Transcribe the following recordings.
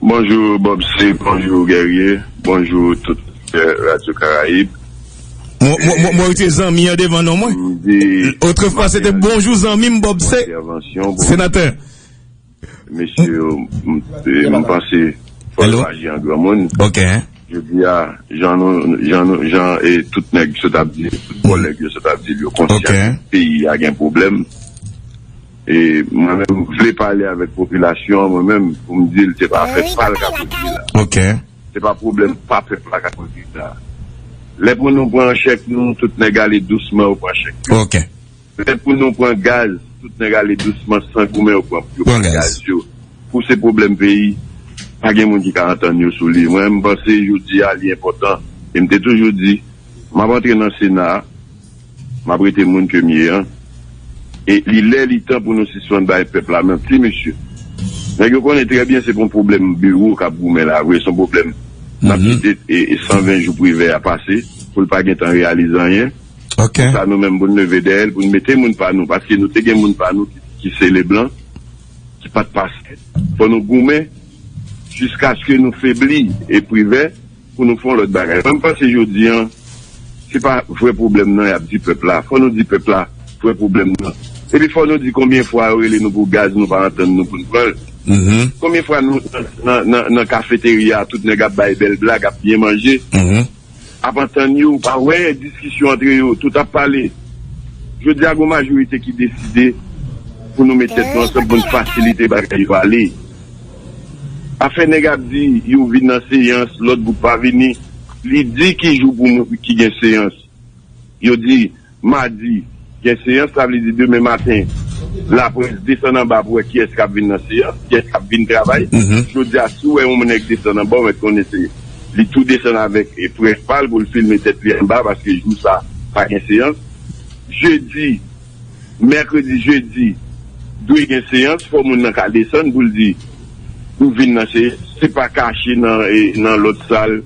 Bonjou Bob C bonjou Guerrier bonjou tout oditè radyo karayib. Mwen retire zanmi an devan non mwen. Otrefwa se te bonjou zanmi m Bob C senatè. Mesye yo m panse fò yo aji an granmoun. Jodi a jan tout nèg sot ap di l tout kòlèg yo sot ap di l yo konsyan peyi a gen pwoblèm. E mwen menm m vle pale avèk popilasyon an mwen menm pou m di l se pa afè pa l k ap ekri la. Se pa pwoblèm pa pèp la k ap ekri sa. Lè pou nou pran chèk nou tout nèg ale dousman yo pran chèk yo. Lè pou nou pran gaz tout nèg ale dousman san goumen yo pran yo pran gaz yo. Kou se pwoblèm peyi pa gen moun ki ka antann yo sou li. Mwen menm m panse jodi a li enpòtan e m te toujou di m ap antre nan sena a. M ap rete moun ke m ye an. E li lè li tan pou nou sispann bay pèp la manti mesye. Nèg yo konnen trè byen se pa yon pwoblèm biwo k ap goumen la vre, se yon pwoblèm n ap kite 120 jou Privè a pase pou l pa gen tan reyalize anyen. Pou sa nou menm pou n leve dèyè l, pou n mete moun pa nou. Paske nou te gen moun pa nou ki se Leblan ki pa t pase. Fò nou goumen jiskaske nou febli e Privè. pou nou fè yon lòt bagay. Mwen m panse jodi an, se pa vrè pwoblèm nan y ap di pèp la. Fò nou di pèp la vrè pwoblèm nan. Epi fò nou di konbyen fwa yo rele nou pou gaz nou pa antann nou pou n pran l. Konbyen fwa nou nan kafeterya a tout nèg ap bay bèl blag, ap byen manje, ap antann yo, ou pa wè diskisyon antre yo, tout ap pale. Jodi a gen yon majorite ki deside pou nou met tèt nou ansanm pou n fasilite bagay yo ale. Afè nèg ap di yo vin nan seyans lòt gwoup pa vini li di ki jou pou moun ki gen seyans yo di madi gen seyans sa vle di demen maten laprès desann anba pou wè kiyès kap vin nan seyans kiyès kap vin travay jodia si w wè yon nèg desann anba w mèt konnen se li tou desann avèk près pa l pou l filme tèt li anba paske jou sa pa gen seyans jedi. Mèkredi, jedi dwe gen seyans fò moun nan ka desann pou l di pou vin nan seyans se pa kache nan lòt sal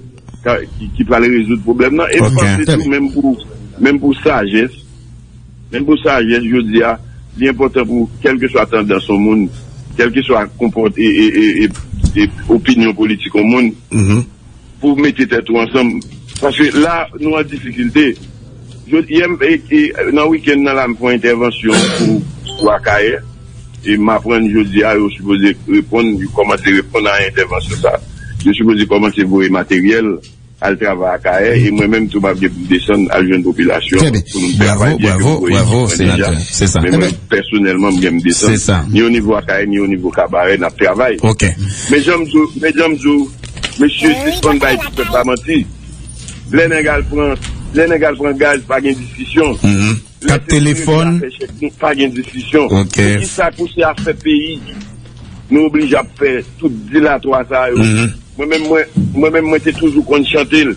ki pral rezoud pwoblèm nan e m panse tou menm pou menm pou sajès menm pou sajès jodi a li enpòtan pou kèlkeswa tandans yon moun kèlkeswa konpòte e opinyon politik yon moun. pou mete tèt ou ansanm paske la nou an difikilte yè m nan wikèn nan la m fon entèvansyon pou pou akayè e m aprann jodi a yo sipoze reponn yo kòmanse reponn a entèvansyon sa yo sipoze kòmanse voye materyèl al travay akayè e mwen menm tou m ap gen pou m desann al jwenn popilasyon pou nou travay byen ke m voye ekipman deja men mwen pèsonèlman m gen m desann ni o nivo akayè ni o nivo kabarè n ap travay men jan m di w men jan m di w Mesye sispann bay ti pèp la manti lè nèg al pran lè nèg al pran gaz pa gen diskisyon lè se pou regle afè chèk nou pa gen diskisyon poukisa kou se afè peyi nou oblije ap fè tout dilatwa sa yo mwen menm mwen mwen menm mwen te toujou konn chante l.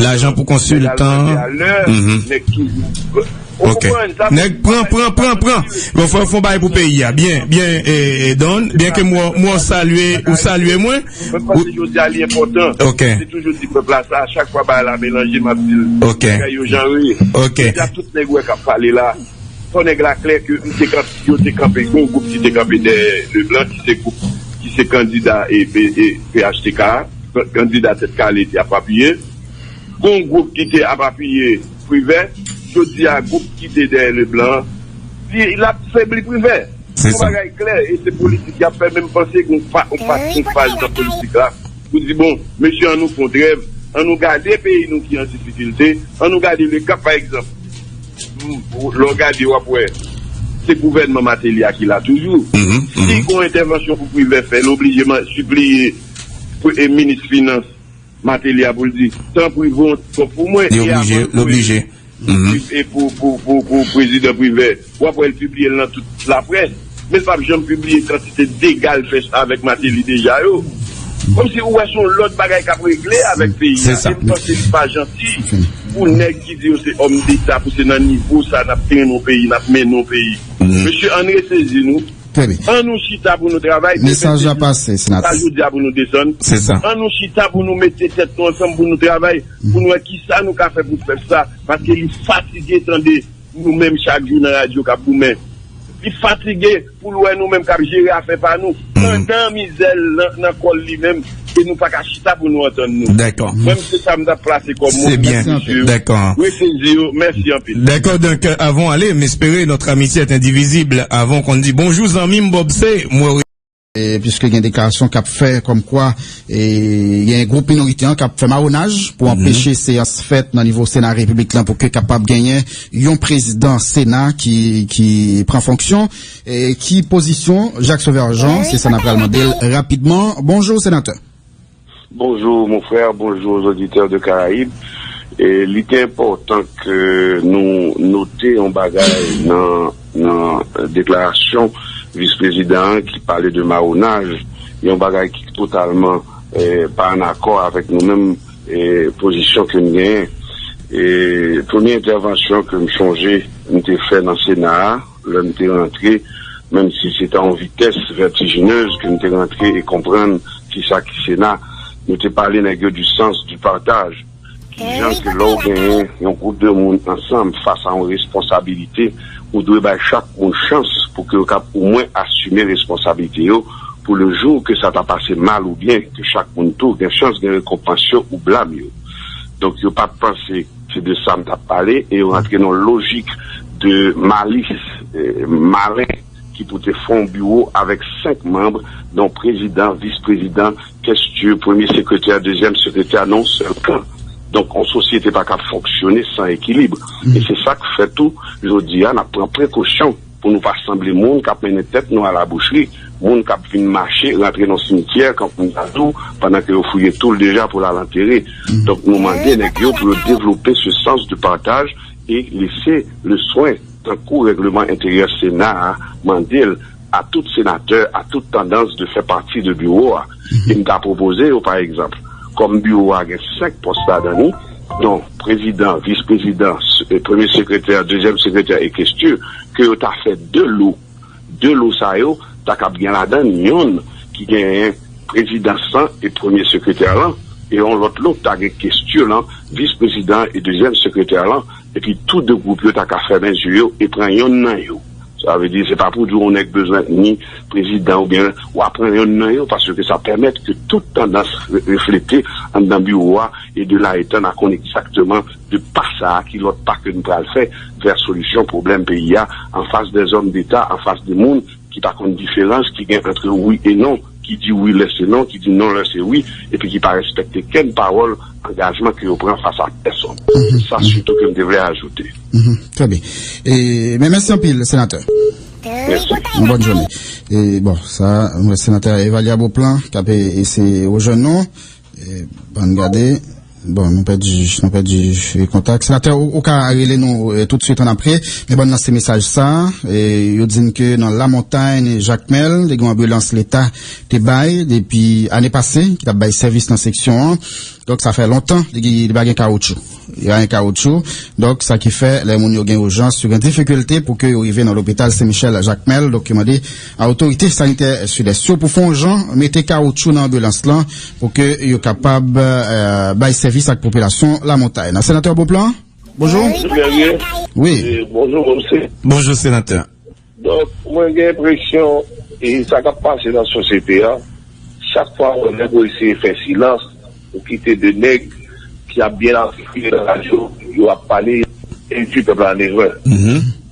Lajan pou konsiltan Ok Nèg pran pran pran pran Bon fòk fon bay pou peyi a Byen byen eh Don Byen ke mwen mwen salye Ou salye mwen Ok Ok Ok Ok kandida Tèt Kale te ap apiye. Gon gwoup ki te ap apiye Privè. Jodi a gwoup ki te dèyè Leblan an di l ap febli Privè. Yon bagay klè e se politik y ap fè men m panse gon yon faz nan politik la pou di bon mesye an nou fon trèv, an nou gade peyi nou ki an difikilte, an nou gade le kap pa egzanp lè w gade w ap wè se gouvènman Mateli a ki la toujou. Si gon entèvansyon pou Privè fè l oblije sipliye e minis finans Mateli a pou l di tanpri voye yon ti kòb pou mwen e avan l voye l pou prezidan Privè w ap wè l pibliye l nan tout laprès men l p ap janm pibliye kantite dega l fè avèk Mateli deja yo kòmsi ou wè se yon lòt bagay k ap regle avèk peyi a e m panse li pa janti pou nèg ki di yo se òmdeta pou se nan nivo sa n ap trennen yon peyi n ap mennen yon peyi mesye ann resezi nou. Trè byen. An nou chita pou nou travay, demen se jou nou, se pa jodi a pou nou desann. An nou chita pou nou mete tèt nou ansanm pou nou travay, pou nou wè ki sa nou ka fè pou pèp sa, paske li fatige tande nou menm chak jou nan radyo k ap goumen. Li fatige pou l wè nou menm k ap jere afè pa nou, pandan mizè l nan kò l li menm, e nou pa ka chita pou nou antann nou. Dèkò. Mwen m se sa m ta plase kòm mo pou mesye yo. Dèkò. Mwen sezi yo. Mèsi anpil. Dèkò donk avan w ale m espere notre amitié est indivisible avan w konn di bonjou zanmi m Bob se m wè w Piske gen deklarasyon k ap fè kòm kwa gen gwoup minorite an k ap fè mawonaj pou anpeche seyans fèt nan nivo Sena Repiblik la pou ke kapab genyen yon prezidan Sena ki pran fonksyon. Ki pozisyon Jacques Sauveur Jean? Se sa n ap pral mande l rapidman. Bonjou senatè. Bonjou mon frè, bonjou aux auditeurs de Caraïbes. Li te enpòtan ke nou note yon bagay nan deklarasyon vis prezidan an ki pale de mawonaj, yon bagay ki totalman pa an akò avèk nou menm pozisyon ke n genyen. Premye entèvansyon ke m sonje m te fè nan sena a, Lè m te rantre, menm si se t a yon vitès vètijinez ke m te rantre e konprann ki sa ki Sena, nou te pale nèg yo du sens du partage, kijan ke lè w genyen yon gwoup de moun ansanm fas a yon responsabilite, ou dwe bay chak moun chans pou ke yo kab omwen asime responsabilite yo pou le jour ke sa ta pase mal ou byen, ke chak moun tou gen chans gen rekonpans yo ou blam yo. Donk yo pa t panse. Se de sa m t ap pale e yo rantre nan yon lojik de malis, malen ki pou te fè yon biwo avèk senk manb don prezidan, vis prezidan, kestye, premye sekretè, dezyèm sekretè nan yon sèl kan. Donk yon sosyete pa ka fonksyone san ekilib e se sa k fè tou jodi a n ap pran prekosyon. Pou nou pa sanble moun k ap mennen tèt nou alabouchri, moun k ap vin mache rantre nan simityè kan Pounadou pandan ke yo fouye tou l deja pou l al antere. Donk nou mande nèg yo pou yo devlope se sans de partaj e lese le swen tankou règleman enteryè Sena a mande l a tout senatè a tout tandans de fè pati de biwo a. e m ta pwopoze yo pa egzanp, kòm biwo a gen 5 pòs ladan li, don prezidan, vis prezidan, premye sekretè, dezyèm sekretè e kestye, ke yo ta fè 2 lo. 2 lo sa yo ta kab gen ladan yonn ki genyen prezidans lan e premye sekretè lan, e yon lòt lo k ta gen kestye lan, vis prezidan e dezyèm sekretè lan, epi tou 2 gwoup yo ta ka fèmen zye yo e pran yonn nan yo. Sa vle di se pa pou di yon nèg bezwen ni prezidan oubyen wa pran yonn nan yo paske sa pèmèt ke tout tandans reflete anndan biwo a e de la etan na konn egzakteman de pa sa a ki lòt pa ke n pral fè vè solisyon pwoblèm peyi a anfas dè zòm deta anfas de moun ki pa konn diferans ki gen antre wi e non. ki di wi lè se non, ki di non lè se wi, epi ki pa respekte kenn pawòl angajman ke yo pran fas a pèsonn. Se sa sitou ke m te vle ajoute. Trè byen. Mwen mèsi anpil, Senatè. Mèsi. Yon bòn jounen. Bon, sa a, m wè Senatè Evalya Beauplan k ap eseye rejwenn nou. Bann gade Bon nou pèdi nou pèdi kontak Senatè ou ka rele nou tout swit an apre men bann lanse mesaj sa yo di n ke nan Lamontagne Jacmel te gen yon anbilans leta te bay depi ane pase ki t ap bay sèvis nan seksyon an donk sa fè lontan li pa gen kawotchou. Rayin kawotchou. Donk, sa ki fè, lè moun yo gen ijans, yo gen difikilte pou ke yo rive nan lopital Sen Michèl Jakmèl. Donk, yo mande a otorite sanitè Sidès yo pou fè yon jan mete kawotchou nan anbilans lan pou ke yo kapab bay sèvis ak popilasyon Lamontay nan. Senatè Beauplan, bonjou. Msye Guerrier, bonjou msye. Bonjou, senatè. Donk mwen gen enpresyon e sa kap pase nan sosyete an chak fwa mwen wè pou eseye fè silans ou kite 2 nèg ki ap byen atikile nan radyo yo ap pale endwi pèp la an erè.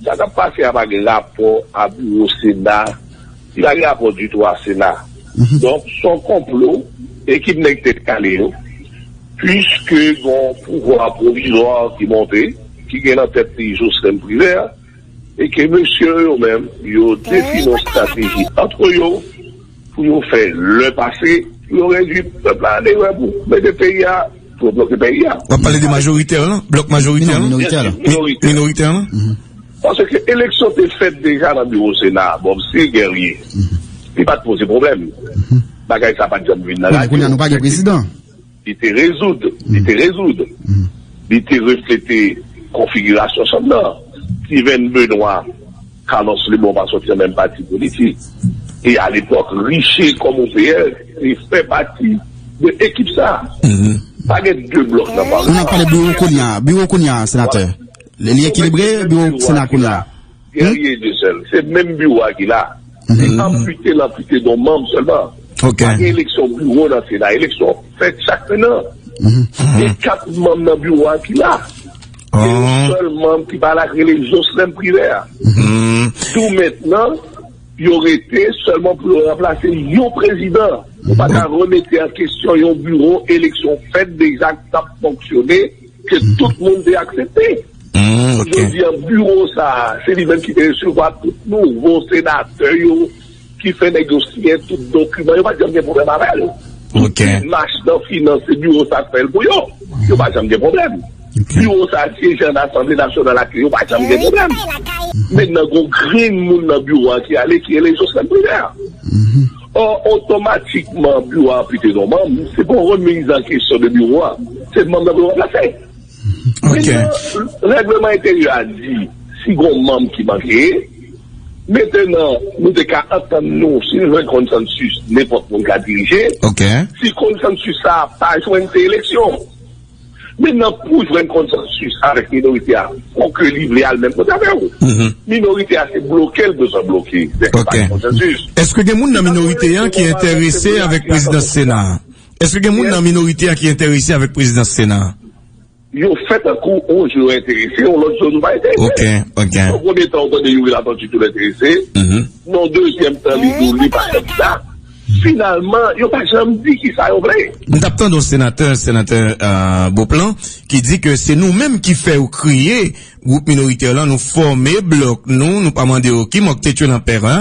Sa kap pase a pa gen rapò a biwo sena li pa gen rapò ditou a sena donk son konplo ekip nèg tèt kale yo puiske gon pouvwa pwovizwa ki monte ki gen nan tèt li Joslèn Privè. E ke mesye yo yo menm, yo defini yon strateji antre yo pou yo fè lè pase, pou yo redwi pèp la an erè pou mete peyi a, pou yo bloke peyi a. Wap pale de majoritè yo la? Blòk majoritè yo la? Non, minoritè yo la. Minoritè. Minoritè yo la? Mh. Pase ke eleksyon te fèt deja nan biwo sena a, bon msi Guerrier, li pat poze pwoblèm. Bagay sa pat janm vin nan radyo. Bon, kounye a nou pa gen prezidan. Li te rezoud, li te rezoud, li te reflete konfigirasyon chanm nan. Tivèn Benwa, Kalòs Lebon pa sòti nan menm pati politik. E alepòk, Riche kòm OPR te fè pati de ekip sa a. Pa gen de blòk nan palman. An n ap pale biwo kounya, biwo kounya a, senatè. Li ekilibre, biwo sena kounya a? Guerrier Dieuseul, se menm biwo a ki la. Li anpute, l anpute non manm sèlman. Pa gen eleksyon biwo nan Sena. Eleksyon fèt chak fen nan. Se kat manm nan biwo a ki la. Se yon sèl manm ki pa la ki rele Jocelin Privert. Tou mentnan, yo rete sèlman pou yo ranplase yon prezidan. Ou pa ka remete an kesyon yon biwo eleksyon fèt deja k t ap fonksyone. Ke tout moun te aksepte. Jodi an biwo sa a, se li menm ki te resevwa tout nouvo senatè yo, ki fè nèg yo siyen tout dokiman. Yo pa t janm gen pwoblèm avè l. Tout demach nan finans, se biwo sa a k fè l pou yo. Yo pa janm gen pwoblèm. Biwo sa a syeje ann Asanble Nasyonal ak yo. Yo pa janm gen pwoblèm. Men nan gen yon grenn moun nan biwo a ki ale, ki rele Joslèn Privè. Or, otomatikman biwo a anplite non manm, se pa yon remiz an kesyon de biwo a, se manm nan pou yo ranplase. Mennen, règleman enteryè a di si gon manm ki manke, metenan nou te ka antann nou si nou jwenn konsansis nenpòt moun ka dirije, si konsansis sa a pa jwenn se eleksyon. Men nan pou jwenn konsansis avèk minorite a pou ke li vle al menm kote avè ou. Minorite a se bloke l bezwen bloke. Dèske pa gen konsansis. Eske gen moun nan minorite an ki enterese avèk prezidans sena a? Eske gen moun nan minorite a ki enterese avèk prezidans sena a? Yo fè tankou yon jou yo enterese, yon lòt jou nou pa enterese. Yon premye tan ou tande Youri Latortue tou l enterese. Nan dezyèm tan li di w li pa kandida. Finalman, yo pa janm di ki sa yo vle. M tap tande yon senatè, senatè Beauplan, ki di ke se nou menm ki fè yo kreye gwoup minoritè lan, nou fòme blòk nou, nou pa mande yo ki mòk tèt yo nan pèp a,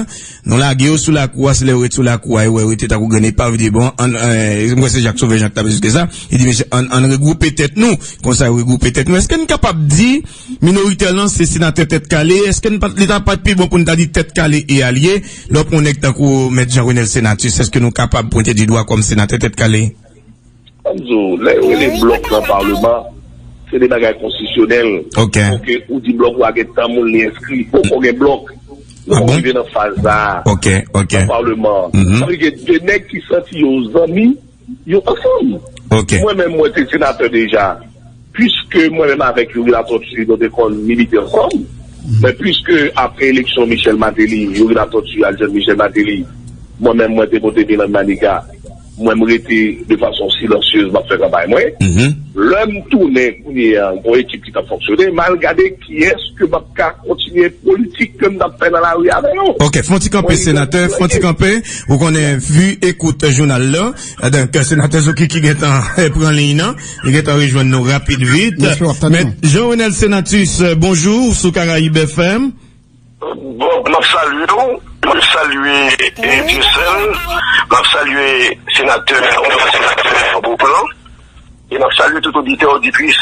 nou lage yo sou lakou a, se lè yo ret sou lakou a yo wè yo rete tankou grenn epav, yo di bon ann, m kwè se Jak Sovè Jan ki tap esplike sa, li di mesye ann regwoupe tèt nou, konsa yo regwoupe tèt nou, eske n kapab di. Minoritè lan se senatè tèt kale, eske n pa t li ta pa t pi bon pou n ta di tèt kale e alye? Lè w pran yon nèg tankou Mèt Jean Renel Senatus, eske nou kapab pwente di dwa kòm senatè tèt kale? An m di w, lè yo rele blòk lan palman, se de bagay konstisyonèl. Ok. Fòke ou di blòk wa gen tan moun li enskri. Poko gen blòk. Ah bon? Nou poko rive nan faz sa a. Ok, ok. Nan palman an. Sa vle di gen de nèg ki santi yo zanmi. Yo ansanm. Ok. Mwen menm mwen te senatè deja. Puiske mwen menm avèk Youri Latortue nou te konn milite ansanm. Men puiske apre eleksyon Michel Martelly, Youri Latortue al jwenn Michel Martelly, mwen menm mwen te pote bilan Maniga. Mwen m rete de fason silansyez m ap fè kanpay mwen. Lè m tounen kounye a m gen yon ekip ki t ap fonksyone. M al gade. Kiyès ke map ka kontinye politik ke m tap fè nan lari avè yo? Ok, fon ti kanpe senatè, fon ti kanpe, ou konnen vu e kout jounal la, donk senatè Zokiki gentan pran liy nan, li gentan rejwenn nou rapid vit. Mèt Jean Renel Senatus, bonjou, ou sou Karayib FM. Bob map salye w, map salye Dyesèl, map salye senatè onòrab senatè Beauplan e map salye tout oditè oditris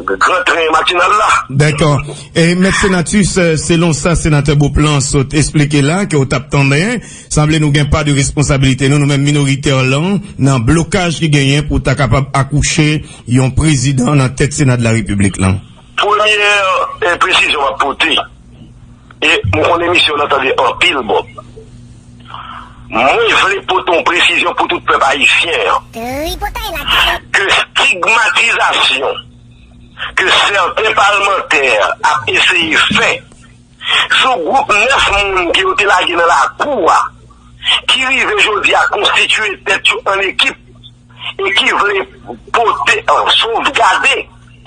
gran tren matinal la. Dèkò. E mèt Senatus, selon sa senatè Beauplan sot esplike la ke w tap tanden, sanble nou gen pa de responsabilite nou, nou menm minoritè lan, nan blokaj ki genyen pou ta kapab akouche yon prezidan nan tèt Sena de la Repiblik lan. Premye presizyon map pote e m konn emisyon w lan tande anpil Bob. Mwen vle pote yon presizyon pou tout pèp ayisyen an. Ke stigmatizasyon ke sèten palmantè ap eseye fè sou gwoup 9 moun ke yo te lage nan lakou a ki rive jodi a konstitiye tèt yo an ekip. e ki vle pote an sovgade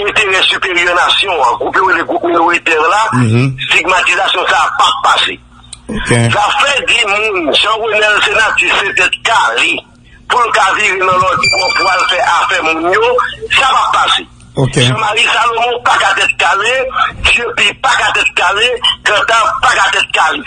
enterè siperyè nasyon an, gwoup yo rele gwoup minoritè yo la, stigmatizasyon sa a pap pase. Zafè di moun Jean Renel se nati se tèt kale pou l ka vire nan lòt bò pou al fè afè moun yo, sa pap pase. Jean Marie Salomon pa ka tèt kale, Dieupi pa ka tèt kale, Cantave pa ka tèt kale.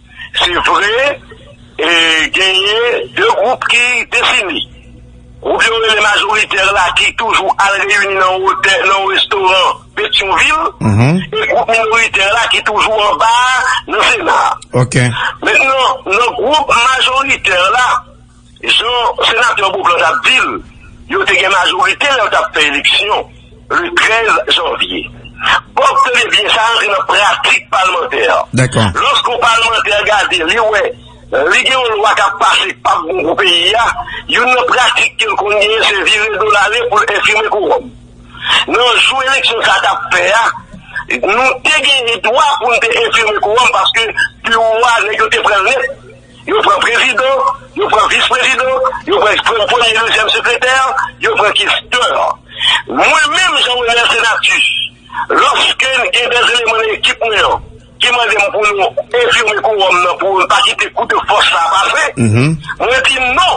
Se vre, genyen 2 gwoup ki defini. Gwoup yo rele majoritè la ki toujou al reyini nan otè, nan restoran Petyonvil, e gwoup minoritè la ki toujou anba a, nan Sena a. Mentnan, nan gwoup majoritè la. Jan Senatè Beauplan t ap di l, yo te gen majorite lè yo t ap fè eleksyon le 13 janvye. Bob, tande byen, sa rantre nan pratik palmantè. Lòske yon palmantè gade, li wè li gen yon lwa k ap pase ki pap bon pou peyi a, youn nan pratik ke l konn genyen se vire do l ale pou l enfime kowòm. Nan jou eleksyon sa t ap fè a, nou te genyen dwa pou n te enfime kowòm paske biwo a, nèg yo te pran l nèt. Yo pran prezidan, yo pran vis prezidan, yo pran premye, dezyèm sekretè, yo pran kestè. Mwen menm, Jean Renel Senatus, lòske m gen de eleman nan ekip mwen an ki mande m pou nou enfime kowòm nan pou nou pa kite kou de fòs sa a pase, mwen di non,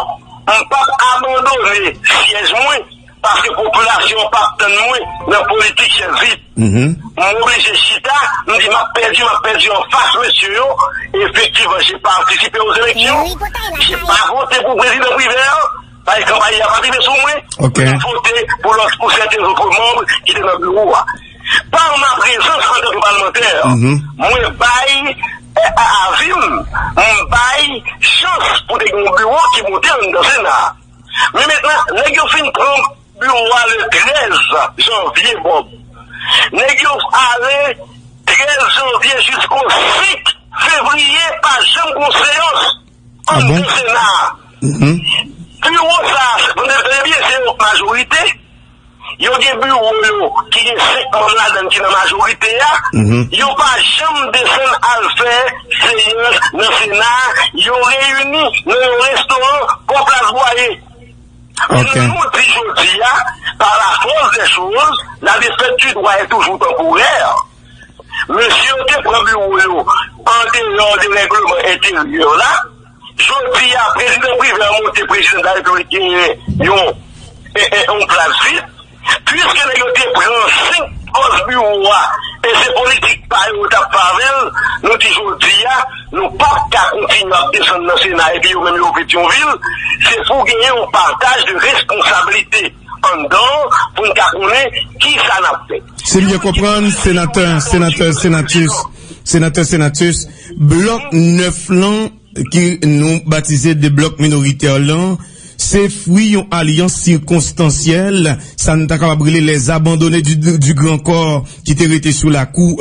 m p ap abandone syèj mwen. Paske popilasyon an pap tann mwen nan politik chèz vit. M oblije chita, m di m ap pèdi, m ap pèdi an fas mesye yo. Efektivman, je patisipe o zeleksyon. Je pa vote pou prezidan Privert, paske kanpay li a pa t rive sou mwen. M te vote pou lòt, pou sèten lotre manm ki te nan biwo a. Par ma prezans antanke palmantè, mwen bay avi m, m bay chans pou te gen yon biwo ki monte anndan sena a. Men mentnan, nèg yo fin pran biwo a le 13 janvye Bob. Nèg yo ale 13 janvye jisko 5 fevriye pa janm gon seyans anndan sena a. Biwo sa a, nou tande byen, se yon majorite. Yo gen biwo yo ki gen 5 manm ladann ki nan majorite a, yo pa janm desann al fè seyans nan sena a, yo reyini nan yon restoran bò plas Bwaye. Men jan nou di jodi a, pa la fòs dè choz, la defèt di dwa è toujou tanporè. Mesye yo te pran biwo yo an deyò de règleman enteryè la. Jodi a prezidan Privè an montre prezidan de la Repiblik genyen yon plas vid. Piske nèg yo te pran 5 pòs biwo a e se politik pa yo yo t ap fè avè l, nou di jodi a nou pa p ka kontinye ap desann nan sena epi yo menm yo Petyonvil. Se pou genyen yon pataj de responsablite anndan an pou n ka konnen kisa n ap fè. Si m byen konprann, senatè Senatus, senatè Senatus. Blòk 9 lan, ke nou batize de blòk minoritè lan, se fwi yon alyans sikonstansyèl, sa nou ta kapab rele les abandonnes du grand corps ki te rete sou lakou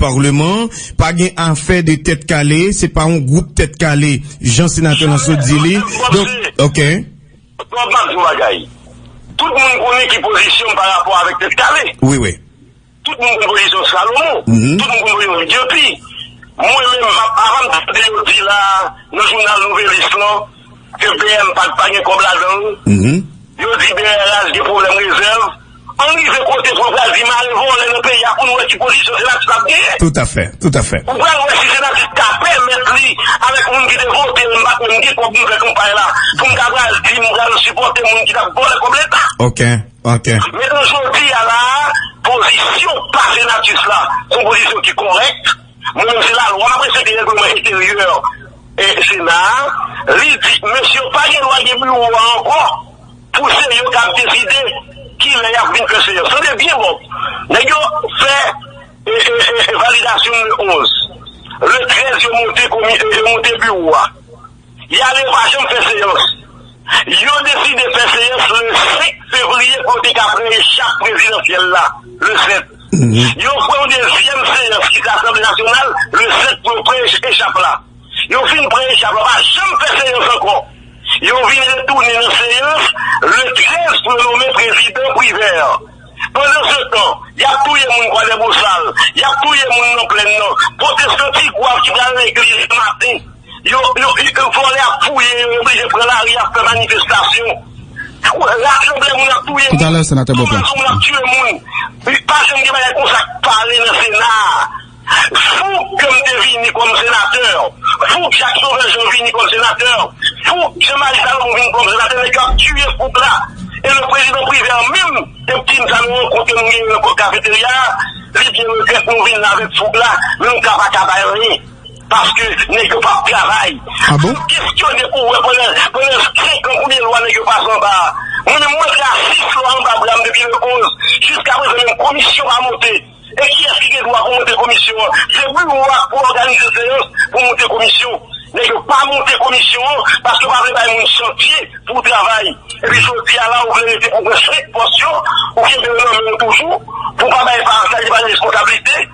parleman. Pa gen afè de tèt kale, se pa yon gwoup tèt kale, jan senatè lan sot di li. Charles, m ap di yon bagay. Tout moun konnen ki pozisyon m parapò avèk tèt kale. Tout moun konn pozisyon Salomon, tout moun konn pozisyon li. Depi mwen menm map avan m tande yo di la nan jounal Nouvelliste lan ke BM pa pa gen kòb ladan l, yo di BRH gen pwoblèm rezèv, ann rive kote pou yo pral di mare vòlè nan peyi a pou n wè ki pozisyon Senatus ap genyen. Toutafè, toutafè. Ou pral wè si Senatus ka pèmèt li avèk moun ki te vote l, m pa t menm gen kòb m fè kanpay la pou m ta pral di m pral sipòte moun ki t ap vòlè kòb leta. Ok. Antè. Men nou jodi a la a, pozisyon pa Senatus la se yon pozisyon ki kòrèk. Mwen menm se lalwa mwen se te règleman enteryè Sena a. Li di mesye yo pa gen dwa gen biwo a ankò pou se yo k ap deside ki lè y ap vin fè seyans. Tande byen bon, nèg yo fè validasyon le 11, le 13 yo monte biwo a. Yale pa janm fè seyans. Yo deside fè seyans le 5 fevriye pou yo te ka pran echap prezidansyèl la le 7. Yo fè yon dezyèm seyans ki se asanble nasyonal le 7 pou yo pran echap la. Yo fin pran echap la pa janm fè seyans ankò. Yo vin retounen nan seyans le 13 pou yo nome prezidan Privert. Pandan se tan, y ap touye moun Kwadèbosal, y ap touye moun nan plenn nan, pwotestanti gwav ki pral legliz le maten. Yo vòlè ap fouye yo yo blije pran lari ap fè manifestasyon rasanble moun ap touye moun anbazo moun ap tiye moun li pa janm gen bagay konsa k pale nan sena fou gèm te vini kòm senatè fou jak sovè jan vini kòm senatè fou jan mari salomon vini kòm senatè nèg yo ap tiye fou la e le prezidan privè menm te p di n sa nou rankontre nou genyen nan kò kafeterya li byen regrèt nou vin la avèk fou la men nou ka pa ka bay anyen. Paske nèg yo pap travay. Ah bon? Kestyone pou wè pandan 5 ans konbyen lwa nèg yo pase anba a. Mwen menm mwen fè a 6 lwa anba bra m depi le 11 jiska prezan menm komisyon pa monte. E kiyès ki gen dwa pou monte komisyon an? Se biwo a pou òganize seyans pou monte komisyon. Nèg yo pa monte komisyon an paske yo pa vle bay moun chantye pou travay. Epi jodi a la ou vle rete pou wè 5 pòs yo ou kenbe yo nan men w toujou pou w pa bay pa sa ki pa gen reskonsablite.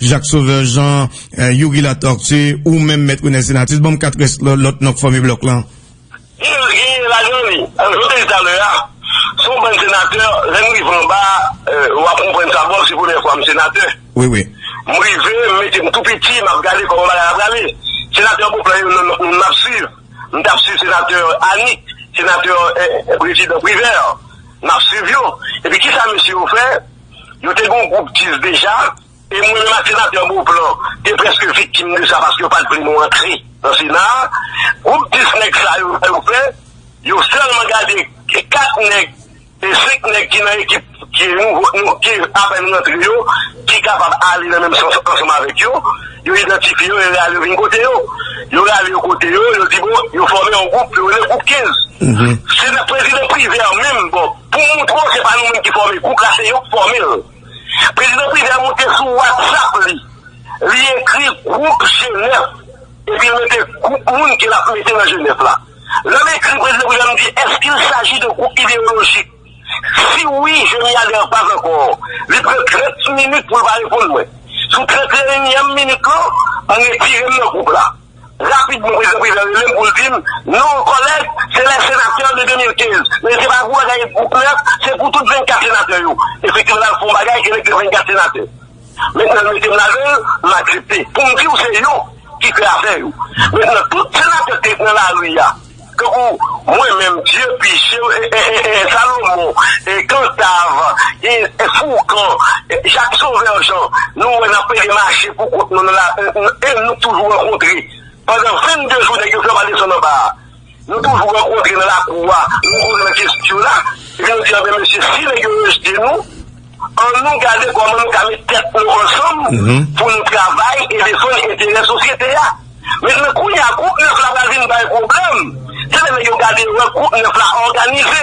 Jacques Sauveur Jean, Youri Latortue, ou menm Mèt Renè Senatus, ban m 4 rès lòt non k fòme blòk lan. Di yo gen ladan li, jan m te di talè a, se yon bann senatè, lè n rive anba a, w ap konprann sa, bon se premyè fwa m senatè. Wi, wi. M rive, m mete m tou piti, m ap gade kòman bagay la prale. Senatè Beauplan yo nan moun m ap swiv. M t ap swiv senatè Annick, senatè, prezidan Privert, m ap swiv yo. Epi kisa mesye yo fè? Yo te gen yon gwoup 10 deja, e mwen menm ak Senatè Beauplan te prèske viktim de sa paske yo pa t vle nou antre nan Sena a. Gwoup 10 nèg sa yo, sa yo fè? Yo sèlman gade 4 nèg, 5 nèg ki nan ekip ki nouvo, ki apèn rantre yo, ki kapab ale nan menm sans ansanm avèk yo. Yo idantifye yo, yo rale yo vin kote yo. Yo rale yo kote yo, yo di bon, yo fòme yon gwoup, yo rele gwoup 15. Se nan prezidan Privert menm, bon, pou moutre w se pa nou menm ki fòme gwoup la, se yo k fòme l. Prezidan Privert moute sou WhatsApp li, li ekri gwoup Jenèf, epi l mete gwoup moun ke l ap mete nan Jenèf la. Lè m ekri prezidan Privert, m di, Est-ce qu'il s'agit de groupe idéologique? Si wi, je m'y aller an pas encore Li pran 30 minit pou l pa reponn mwen. Sou 31 èm minit lan, m retire m nan gwoup la. Rapidman Prezidan Préval rele m pou l di m, Non, kòlèg, se les sénateurs de 2015. Men se pa pou bagay gwoup nèf, se pou tout 24 senatè yo. Efektivman, n al fè yon bagay elèk de 24 senatè. Men sèl mete m ladan l, m aksepte. Pou m di w se yo ki fè afè yo. Men nan tout senatè ki t nan lari a, tankou mwen menm, Dye pi Chen, Salomon, Kantav, Foukan, Jak Sovè Jan, nou wè n ap pede mache pou kont nou nan lari e nou toujou rankontre. Pandan 22 jou nèg yo fè w pa desann anba a. Nou toujou rankontre nan lakou a, nou kouri nan kestyo la, epi nou di anben mesye si nèg yo rejte nou, an nou gade kòman nou ka met tèt nou ansanm pou nou travay e defann enterè sosyete a. Mètnan kounye a gwoup 9 la pral vin bay pwoblèm, se lè nèg yo gade wè gwoup 9 la òganize.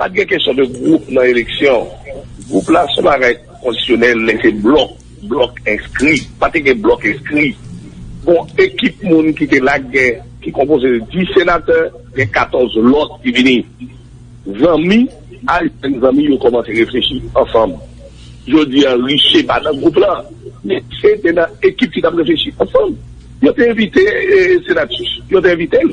Pat gen kesyon de gwoup nan eleksyon. Gwoup la son bagay kondisyonèl men se blòk, blòk enskri. Pa te gen blòk enskri. Gon ekip moun ki te la gen ki konpoze de 10 senatè, gen 14 lòt ki vini zanmi, al jwenn zanmi yo kòmanse reflechi ansanm. Jodi a Riché pa nan gwoup la men Riché te nan ekip ki t ap reflechi ansanm. Yo te envite Senatus, yo te envite l.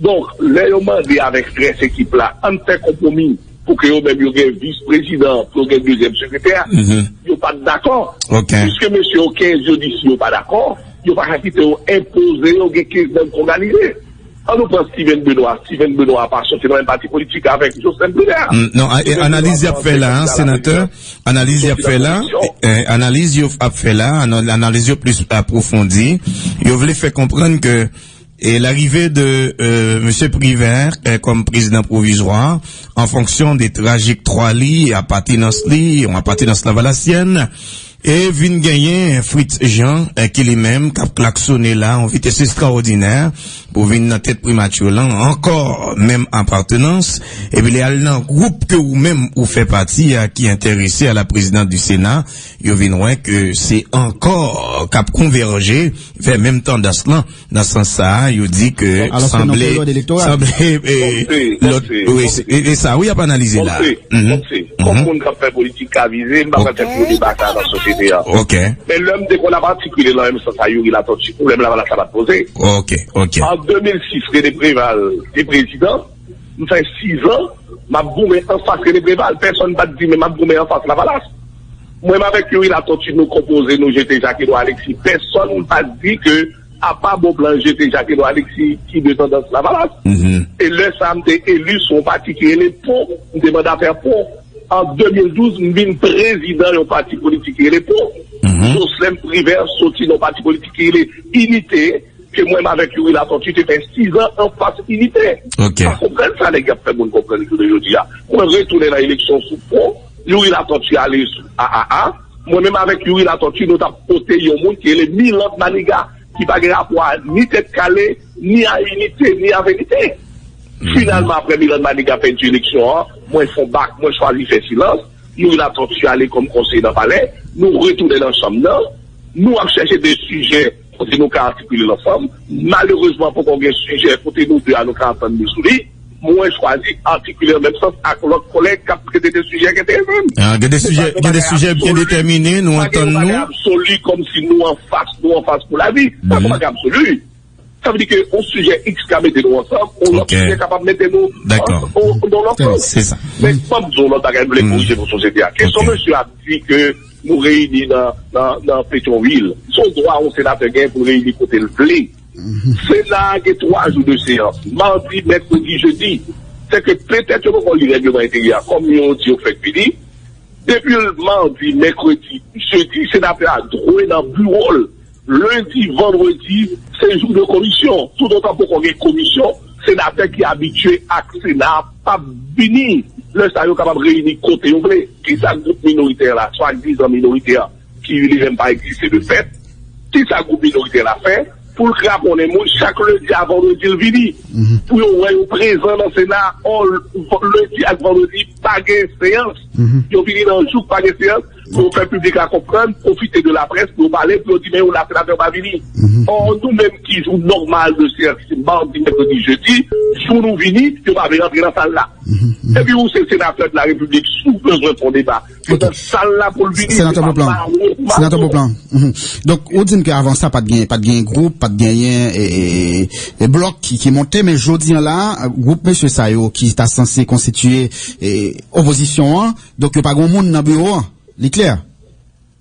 Donk, lè yo mande avèk strès ekip la, an n fè konpwomi pou ke yo menm yo gen vis prezidan an, pou yo gen dezyèm sekretè a, yo pa t dakò. Piske mesye yo 15 yo di si yo pa dakò, yo pa ka kite yo enpoze yo gen 15 moun k òganize. An nou pran Stivenn Benowa. Stivenn Benowa pa soti nan menm pati politik avèk Joslèn Privè a. Non, analiz y ap fè la a, senatè, analiz y ap fè la a, analiz yo ap fè la a, analiz yo plis apwofondi. Yo vle fè konprann ke E larive de Mesye Privert kòm prezidan pwovizwa an fonksyon de trajektwa li, apatenans li, yon apatenans lavalasyèn, e vin genyen Fritz Jean ki li menm kap klaksone la yon vitès estrawòdinè pou vin nan tèt Primature lan ankò, menm apatenans, epi li al nan gwoup ke ou menm ou fè pati a ki enterese a la presidence du Sénat, yo vin wè ke se ankò kap konvèje vè menm tandans lan. Nan sans sa a, yo di ke sanble, sanble, lòt, wi, e sa wi y ap analize la. Bon, se, kòm moun k ap fè politik ka vize, m pa pral fè gwo deba sa a nan sosyete a. Ok. Men lè m te konn ap atikile nan menm sans sa Youri Latortue, pwoblèm Lavalas la pa t poze. Ok, ok. An 2006, René Préval te prezidan, m fè sizan m ap goumen anfas René Préval, pèsonn pa t di men m ap goumen anfas Lavalas. Mwen m avèk youri latòti nou konpoze nou jete jak edwa aleksi pèsòn pa di ke apa bon plan jete jak edwa aleksi ki de tandans lavalas e lè sa m te eli sou yon pati ki rele po m te mandatè po an 2012 m vin prezidan yon pati politik ki rele po joslèn privè soti nan yon pati politik ki rele inite ke mwen m avèk youri latòti te fè 6 an anfas inite m pa konprann sa nèg y ap fè moun konprann jounen jodi a mwen retounen nan eleksyon sou po. Youri Latortue ale aa mwen menm avèk Youri Latortue nou tap pote yon moun ki rele Milord Maniga ki pa gen rapò a ni tèt kale ni a inite ni a verite finalman aprè Milord Maniga pèdi eleksyon an mwen fon bak mwen chwazi fè silans Youri Latortue ale kòm konseye nan palè nou retounen nan chanm nan nou ap chèche de sijè kote nou ka atikile lansanm malerezman poko gen sijè kote nou 2 a nou ka antann nou sou li. Mwen chwazi atikile nan menm sans ak lòt kòlèg k ap trete de sijè k enterese m. Gen de sijè ki gen sijè byen detèmine, nou antann nou. Pa gen yon bagay absoli kòmsi nou anfas, nou anfas pou lavi. Pa gen bagay absoli. Sa vle di ke yon sijè iks ka mete nou ansanm, yon lòt sijè kapab mete nou nan lòt sans. Se sa. Men fò m di w yon lòt bagay m vle korije pou sosyete a. Kesyon mesye a di ke nou reyini nan Petyonvil, se yon dwa yon senatè gen pou l reyini kote l vle. Sena a gen 3 jou de seyans, madi, mèkredi, jedi. Sèke petèt yo poko li règleman enteryè a kòm yo di yo fèk vini. Depi l madi, mèkredi, jedi, senatè a dwe nan biwo l. Lendi, vandredi, se jou de komisyon. Toutotan poko gen komisyon, senatè ki abitye ak sena a p ap vini. Lè sa yo kapab reyini kote yo vle. Kisa gwoup minoritè la, swadizan minoritè, Ki li menm pa egziste de fèt. Kisa gwoup minoritè la fè pou l kraponnen moun chak lendi a vandredi l vini pou yo wè yo prezan nan sena ò lendi ak vandredi pa gen seyans yo vini nan jou k pa gen seyans pou yo fè piblik la konprann pwofite de laprès pou yo pale pou yo di men yo la senatè yo pa vini ò nou menm ki jou nòmal de seyans se mardi mèkredi jedi jou nou vini yo pa vle rantre nan sal la epi ou se senatè de la repiblik si w bezwen fon deba. Senatè Beauplan, Senatè Beauplan, donk ou di m ke avan sa pat gen group, pat gen yon blok ki monte, men jodi an la, group mesye sa yo ki ta sanse konstitye opozisyon an, donk yo pa gen moun nan biwo an, li klè?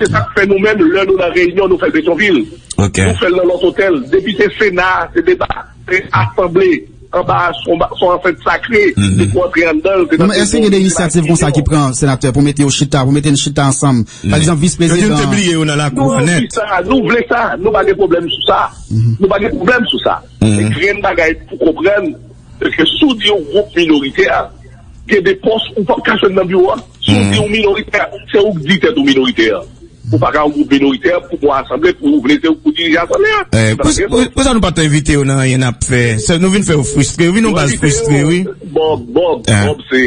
Se sak fè nou menm lè nou nan reyinyon nou fèl Petyonvil. Nou fèl nan lòt otèl. Depi se sena se deba, se asanble anba a son ansent sakre se pou antre anndanl. Se nan se Èske gen de inisyativ konsa ki pran senatè pou mete yo chita, pou mete n chita ansanm pa egzanp vis prezidan. Yo di n te bliye yo nan lakou an nèt. Nou anvi sa, nou vle sa, nou pa gen pwoblèm sou sa. Nou pa gen pwoblèm sou sa. Men grenn bagay pou konprann. Eske si w di yon gwoup minoritè, gen de pòs ou pap ka jwenn nan biwo a? Si w di yon minoritè, se ou k di tèt ou minoritè a. Ou pa ka yon gwoup minoritè pou pou asanble pou ou vle se ou k pou dirije asanble a. Eee, pou sa, pou sa nou pa t envite yo nan anyen n ap fè? Se nou vin fè yo fristre, yo vin yon baz fristre wi. Bob, Bob, Bob se,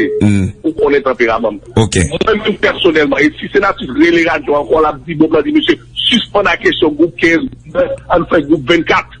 ou konnen tanperaman m. Ok. Mwen menm pèsonèlman, e si Senatus rele radyo ankò l ap di Bob la di mesye sispann a kesyon gwoup 15, gwoup 20, ann fè gwoup 24.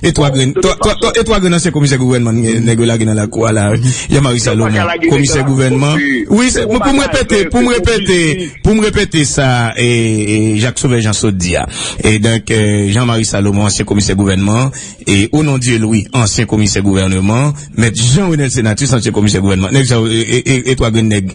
E 3 grenn e 3 grenn ansyen komisè gouvènman nèg yo lage nan lakou a la Jean Marie Salomon komisè gouvènman wi pou m repete pou m repete pou m repete sa Jacques Sauveur Jean sot di a e donk Jean Marie Salomon ansyen komisè gouvènman e Onondieu Louis ansyen komisè gouvènman mèt Jean Renel Senatus ansyen komisè gouvènman nèg sa yo e 3 grenn nèg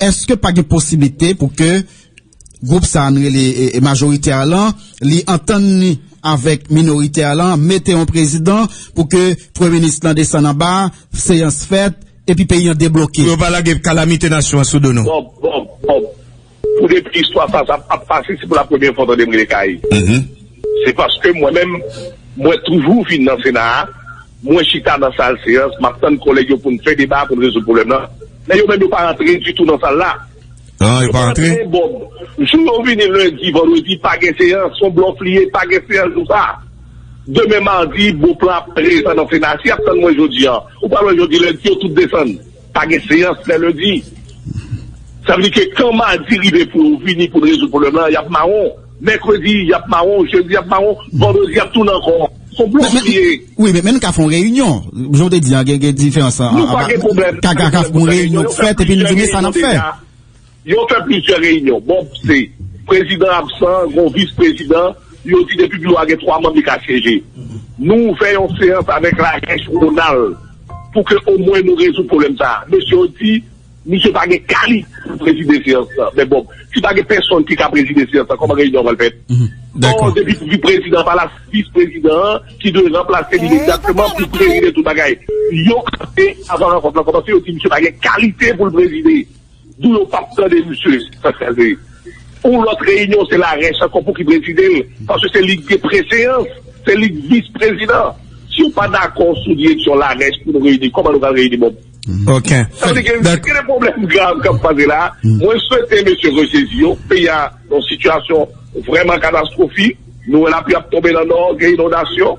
Eske pa gen posiblite pou ke gwoup sa nou rele majorite a lan li antann li avèk minorite a lan mete yon prezidan pou ke premye minis lan desann anba, seyans fèt epi peyi an debloke? Pou yo pa lage kalamite nasyon an sou do nou. Bob, Bob, Bob, pou depi istwa sa sa ap pase se pou la premye fwa w tande m rele Kaï. Se paske mwen menm, mwen toujou vin nan Sena a, mwen chita nan sal seyans, m ap tann kòlèg yo pou n fè deba, pou n rezoud pwoblèm lan. Men yo menm yo pa rantre ditou nan sal la. Yo pa rantre? Bon, jou yo vini lendi, vandredi, pa gen seyans. Son blòf li ye, pa gen seyans jou sa a. Demen madi, Beauplan ap prezan nan Sena a. Si y ap tann mwen jodi an, ou pa wè jodi lendi yo tout desann. Pa gen seyans lè lendi. Sa vle di ke kan madi rive pou yo vini pou rezoud pwoblèm lan, y ap mawon. Mèkredi, y ap mawon. Jedi, y ap mawon. Vandredi, y ap tounen ankò. Son blòf li ye. Wi, men nou ka fè yon reyinyon. Jan w te di an, gen diferans. Nou pa gen pwoblèm. Ka gen yon reyinyon k fèt epi nou di men sa n ap fè. Yo fè plizyè reyinyon. Bon se prezidan absan, gon vis prezidan, yo di depi biwo a gen 3 manm li ka syeje. Nou ouvè yon seyans avèk Ramesh Ronald pou ke omwen nou rezoud pwoblèm sa. Mesye yo di misye pa gen kalit pou prezide seyans lan. Men bon, si pa gen pèsonn ki ka prezide seyans lan, kòman reyinyon an pral fèt? Or depi pou prezidan pa la, se vis prezidan an ki dwe ranplase li imediatman pou prezide tout bagay. Yon ane avan rankont lan kòmanse, yo di misye pa gen kalite pou l prezide. Dou yo pap tande misye paske se Yon lòt reyinyon se la rèch ankò pouki prezidel paske se lik gen preseyans se lik vis prezidan si yo pa dakò sou direksyon la rèch pou nou reyini kòman nou pral reyini bon sa vle di gen de pwoblèm grav kap pase la mwen swete mesye resezi yo peyi a nan sitiyasyon vrèman katastrofik nou wè lapli ap tonbe nan nò gen inondasyon.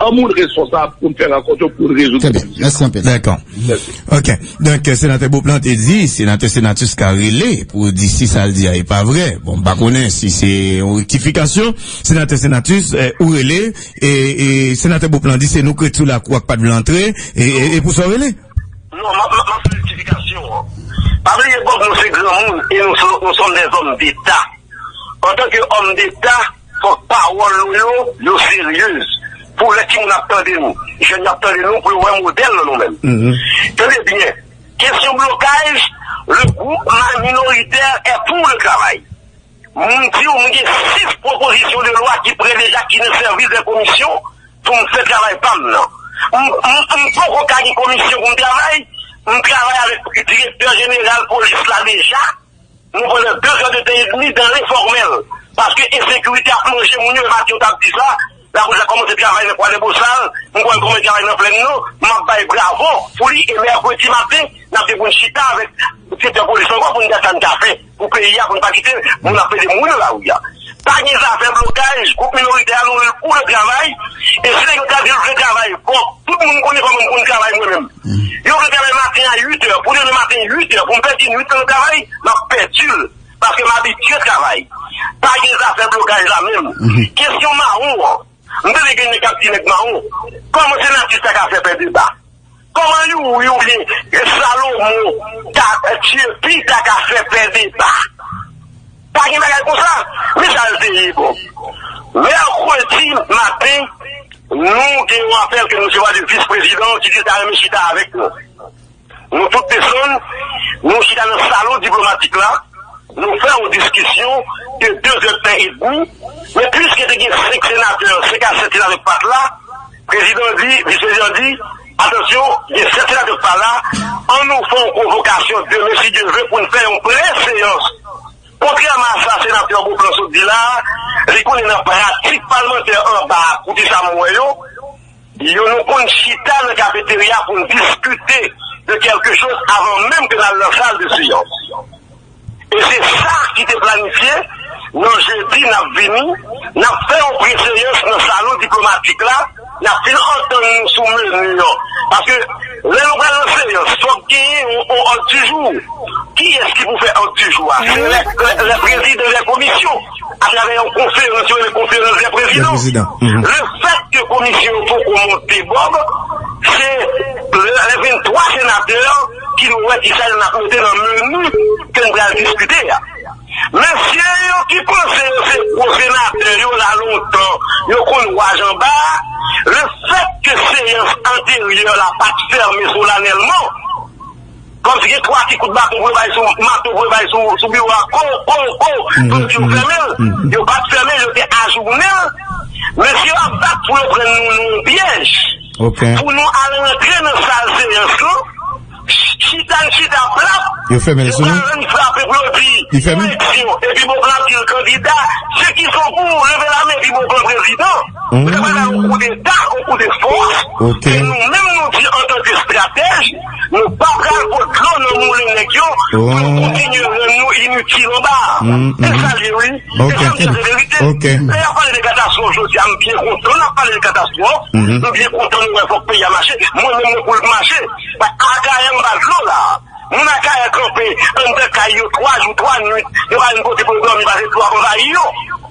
An moun responsab pou n fè rankont yo pou n rezoud krim si sa. Trè byen. Mèsi anpil. Dèkò. Mèsi. Ok. Donk, Senatè Beauplan te di Senatè Senatus ka rele pou di si sa l di a e pa vre. Bon, m pa konnen si se yon rektifikasyon. Senatè Senatus, ou rele e Senatè Beauplan di se nou krèt sou lakou a k pa t vle antre e e pou sa w rele? Non, m ap fè rektifikasyon an. Pa bliye bòk nou se granmoun e nou sòm dèzòm deta. Antanke òm deta. Fòk pawòl nou yo, yo seryez. Pou lè timoun ap tande nou, jèn yo ap tande nou, pou yo wè modèl nan nou menm. Tande byen, kesyon blokaj, le groupman minoritè è pou le travay. M di w, m gen 6 pwopozisyon de lwa ki pre deja ki nan sèvis de komisyon pou m fè travay pa m nan. M poko ka gen komisyon pou m travay, m travay avèk direktè jeneral polis la deja. Nou pandan 2 zan de tan e demi dan lenfòmèl paske ensekirite ap manje moun yo e Mathieu tap di sa, lapolis la kòmanse travay nan Kwadèbow Bosal, m kwè l kòmanse travay nan Plèn Nò, map bay bravo pou li e mèkredi maten nap gen pou n chita avèk direktè polis ankò pou n gad sa n ka fè pou peyi a pou n pa kite moun ap pede moun nan lari a. Pa gen zafè blokaj, gwoup minoritè a louvri l pou yo travay, e si nèg yo ta di yo vle travay, bon, tout moun konnen kòman m konn travay mwen menm. Yo vle travay maten a 8 è, pou demen maten 8 è, pou m pèdi nwit lan nan travay, m ap pèdi l, paske m abitye travay. Pa gen zafè blokaj la menm. Kesyon mawon an, m tande gen nèg k ap di nèg mawon, kòman senatris sa ka fè fè deba? Koman Youri e Salomon ta tye pi ta ka fè pè deba? Pa gen bagay konsa, men sa l te ye bon. Mèkredi maten, nou gen yon apèl ke nou resevwa de vis prezidan an ki di l ta renmen chita avèk nou. Nou tout desann, nou chita nan salon diplomatik la, nou fè yon diskisyon de 2 èdtan edmi, men pwiske te gen 5 senatè, 5 a 7 senatè ki pat la, Prezidan di, Misye Jean di, Atansyon, gen 7 senatè k pa la, an nou fè yon konvokasyon demen si Dye vle pou n fè yon pre-seyans. Kontrèman a sa senatè Beauplan sot di la a, li konnen nan pratik palmantè anba a koute sa m wè yo, yo nou konn chita nan kafeterya pou n diskite de kèlke choz avan menm ke n al nan sal de seyans. E se sa ki te planifye, nan jedi n ap vini, n ap fè yon preseyans nan salon diplomatik la, n ap fin antann nou sou menu an. Paske lè nou pral nan seyans, fòk genyen yon òd di jou. Kiyès ki pou fè òd di jou a? Se lè prezidan lè komisyon, atravè yon konferans yo rele konferans lè prezidan. Lefèt ke komisyon yo poko monte Bob, se lè 23 senatè, ki nou wè kisa yo nap mete nan menu ke n pral diskite a. Mesye yo ki panse yo se gwo senatè yo la lontan yo konn wa janba a, le fèt ke seyans anteryè la pat fèmen solanèlman, kòmsi gen 3 ki kout baton pou yo bay sou mato pou yo bay sou biwo a ko ko ko kòmsi yo fèmen l, yo pat fèmen l yo te ajounen l, mesye yo ap bat pou yo pran nou nan yon pyèj. Pou nou al rantre nan sal seyans lan, chita n chita plat, yo pral annik frape plodi pou eleksyon epi Beauplan ap di l kandida, se ki son pou ou leve la men epi Beauplan prezidan? Ou ta pral bay yon koudeta, yon koudefòs, e nou menm nou di antanke estratèj. Nou pa pral pot dlo nan moulen nèg yo pou nou kontinye rann nou initil anba a. Se sa l ye wi. E sa m di a se verite. Lè y ap pale de katastwòf jodi a m byen kontan n ap pale de katastwòf. M byen kontan nou wè fòk peyi a mache. Mwen menm mwen pou l mache. Akayè anba dlo la a. Moun Akayè kanpe anndan kay yo 3 jou 3 nuit. Yo pa gen kote pou yo dòmi pase dlo ap anvayi yo.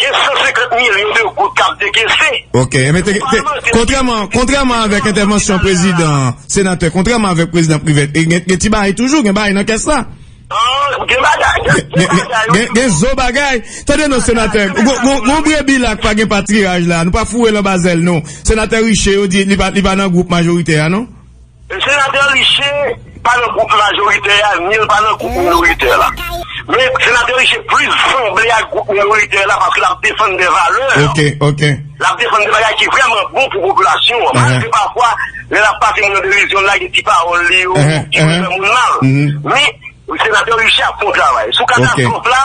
Gen 150 milyon de goud k ap dekese. Ok, men te gen, kontrèman, kontrèman avèk entèvansyon prezidan, senatè, kontrèman avèk prezidan Privert, e gen ti bagay toujou, gen bagay nan kès la. An, gen bagay, gen ti bagay. Gen, gen zo bagay. Tande non, senatè, gon, gon, gon brebi la k pa gen patiraj la, nou pa foure l anba zèl non. Senatè Riché, yo di li pa, li pa nan gwoup majorite a non? Senatè Riché pa nan gwoup majoritè a ni l pa nan gwoup minoritè la. Men Senatè Riché plis sanble ak gwoup minoritè la paske l ap defann de valè. L ap defann de bagay ki vrèman bon pou popilasyon an. Malgre pafwa lè l ap pase moun an derizyon l lage ti pawòl li yo ki pou fè moun mal. Men Senatè Riché ap fè yon travay. Sou katastwòf la.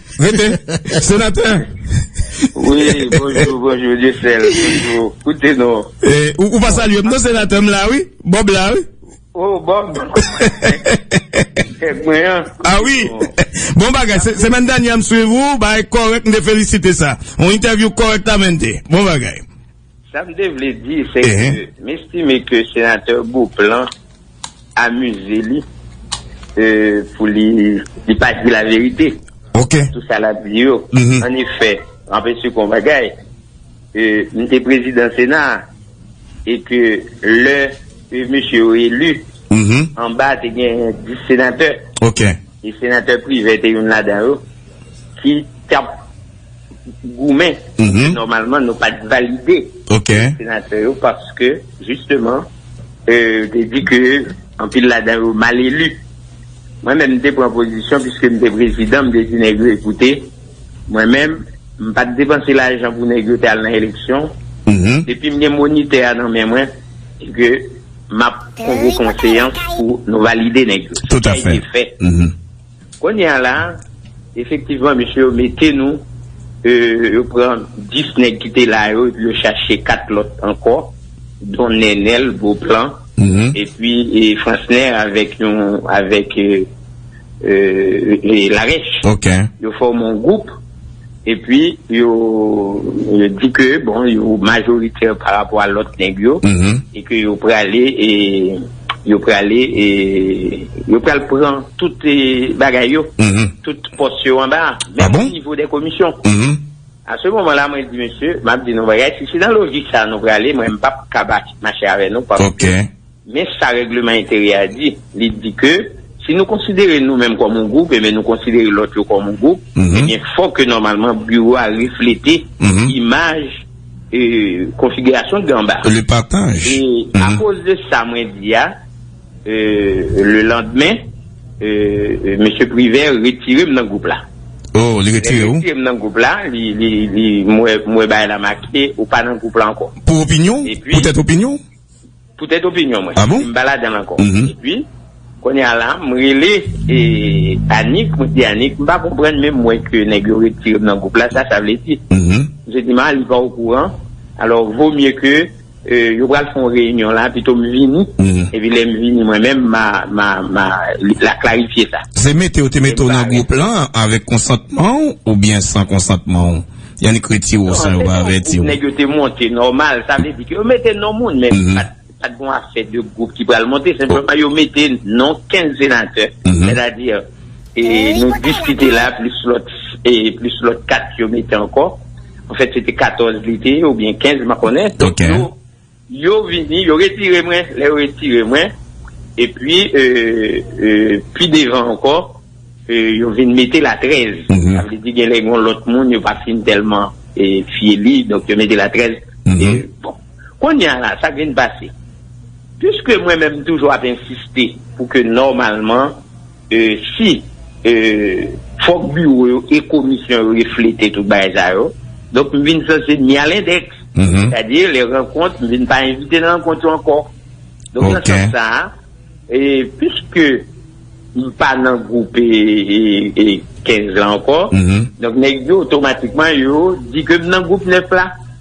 Rete! Senatè! Wi, bonjou, bonjou, Dyesèl, bonjou, koute nou. E, ou, ou pa salye m non, Senatè, m la wi, Bob la wi. O, Bob! Kèk mwen an. A wi! Bon bagay, se, semèn dènyè m swiv ou, bagay kòrèk, m te felisite sa. Yon entèvyou kòrèktamente. Bon bagay. Sa m te vle di se ke m estime ke Senatè Beauplan amize li pou li pa di la verite nan tout sa l ap di yo. An efè, m ap esplike yon bagay, m te Prezidan Sena a e ke lè mesye yo eli, anba te gen 10 Senatè e Senatè Privè te youn ladan yo ki t ap goumen pou ke nòmalman nou pat valide senatè yo paske jisteman yo te di ke anpil ladan yo mal elu. Mwen menm m te pran pozisyon piske m te prezidan m te di nèg yo ekoute mwen menm m pat depanse lajan pou nèg yo te al nan eleksyon depi m gen monitè a nan men mwen e ke m ap konvoke yon seyans pou nou valide nèg yo. Se sa ki te fèt. Kounye a la, efektivman mesye yo mete nou, yo pran 10 nèg ki te la yo epi yo chache 4 lòt ankò, don Nènèl, Beauplan, epi Fransnè avèk yon, avèk Larèche. Yo fòme yon gwoup. Epi yo di ke bon yo majoritè pa rapò a lòt nèg yo e ke yo prale e yo prale e yo pral pran tout bagay yo, tout pòs yo anba a. A bon? Menm nivo dè komisyon. A se moman la mwen di mesye, m ap di nou bagay, si se nan lojik sa a nou prale mwen m p ap ka mache avè nou paske. Men sa règleman enteryè a di, li di ke si nou konsidere nou menm kòm yon gwoup enben nou konsidere lòt yo kòm yon gwoup, enben fò ke nòmalman biwo a reflete imaj konfigirasyon ki anba. E akoz de sa mwen di a, le landmen, Mesye Privert retire m nan gwoup la. Lè li retire m nan gwoup la, mwen wè bagay la make, ou pa nan gwoup la ankò. Pou opinyon ou? Poutèt opinyon ou? Poutèt opinyon mwen, m pa ladan l ankò. Epi, kounye a la, m rele Annik, mwen di Annik, m pa konprann men m wè ke nèg yo retire m nan gwoup la, sa sa vle di? Misye di m, a li pa okouran, alò vo mye ke yo pral fè yon reyinyon la, pito m vini, epi lè m vini mwen menm, ma la klarifye sa. Se mete yo te mete w nan gwoup lan avèk konsantman w oubyen san konsantman w? Yon ekriti ou san yo pa avèti ou. Nèg yo te monte nòmal, sa vle di ke yo mete non moun men pat gon afè de gwoup ki pral monte, senpleman yo mete non 15 senatè, sètadi nou diskite la plis lòt, plis lòt 4 yo mete ankò, anfèt se te 14 li te ye oubyen 15 m pa konnen. Yo vini, yo retire mwen, lè yo retire mwen, epi pi devan ankò, yo vin mete la 13, sa vle di gen lè gen yon lòt moun yo pa fin tèlman fye li, donk yo mete la 13, bon, kounye a la, sa k vin pase, piske mwen menm m toujou ap ensiste pou ke nòmalman. Si, fòk biwo yo e komisyon yo reflete tout bagay sa yo. Donk m vin sanse ni a lendex. Sètadi lè rankont, m vin pa envite nan rankont yo ankò. Donk nan sans sa a, piske m pa nan gwoup 15 lan ankò, donk nèg yo otomatikman yo di ke m nan gwoup 9 la.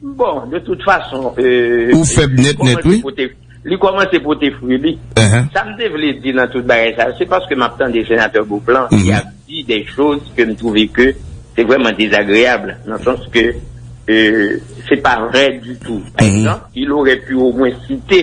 Bon, de tout fason, li kòmanse pote fwi li. Sa m te vle di nan tout bagay sa yo, se paske m ap tande Senatè Beauplan ki ap di de choz ke m twouve ke se vrèman dezagreyab, nan sans ke se pa vrè ditou. Par egzanp, il orè pu omwen site.